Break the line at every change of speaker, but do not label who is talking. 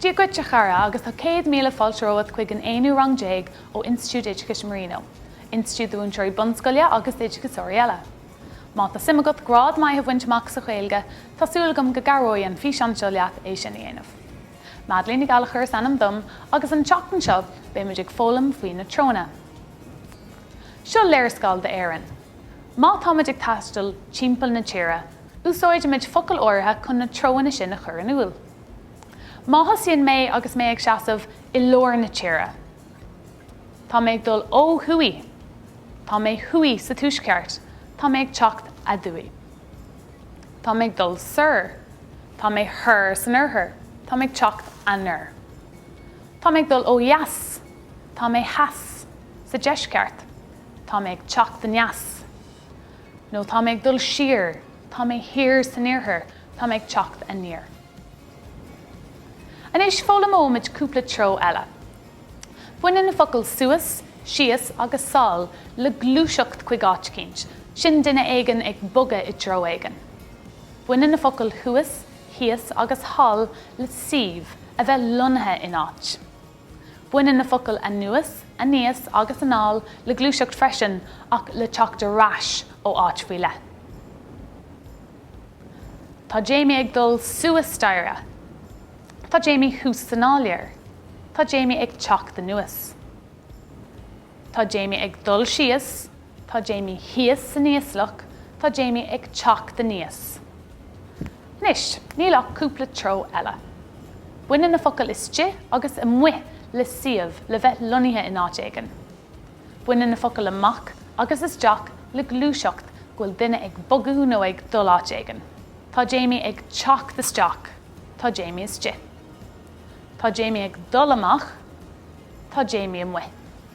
Dia dhuit, a chara, agus tá céad míle fáilte romhat chuig an aonú rang déag ó Institiúid Oideachais Marino, institiúid do mhúinteoirí bunscoile agus d'oideachasóirí eile. Má tá suim agat grád maith a bhaint amach sa Ghaeilge, tá súil agam go gcabhróidh an físeán seo leat é sin a dhéanamh. Madeleine Ní Ghallachair is ainm dom agus an tseachtain seo beidh muid ag foghlaim faoi na treonna. Seo léarscáil d'Éirinn. Má tá muid ag taisteal timpeall na tíre, úsáidfidh muid focail áirithe chun na treoanna sin a chur in iúl. Má thosaíonn mé agus mé ag seasamh i lár na tíre, tá mé ag dul ó thuaidh, tá mé thuaidh sa tuaisceart, tá mé ag teacht aduaidh. Tá mé ag dul soir, tá mé thoir san oirthear, tá mé ag teacht anoir. Tá mé ag dul ó dheas, tá mé theas sa deisceart, tá mé ag teacht aneas. nó tá mé ag dul siar, tá mé thiar san iarthar, tá mé ag teacht aniar. Anois foghlaimeoimid cúpla treo eile. Baineann na focail suas, síos agus sall le gluaiseacht chuig áit eicínt, sin duine éigin ag bogadh i dtreo éigin. Baineann na focail thuas, thíos agus thall le suíomh, a bheith lonnaithe in áit. Baineann na focail 'anuas', 'aníos' agus 'anall' le gluaiseacht freisin, ach le teacht ar ais ó áit faoi leith. Tá Jamie ag dul suas staighre. Tá Jamie thuas san áiléar. Tá Jamie ag teacht anuas. Tá Jamie ag dul síos. Tá Jamie thíos san íoslach, tá Jamie ag teacht aníos. Anois, níl ach cúpla treo eile. Baineann na focail istigh agus amuigh le suíomh, le bheith lonnaithe in áit éigin. Baineann na focail amach agus isteach le gluaiseacht, go bhfuil duine ag bogadh nó ag dul áit éigin. Tá Jamie ag teacht isteach, tá Jamie istigh. Tá Jamie ag dul amach, tá Jamie amuigh.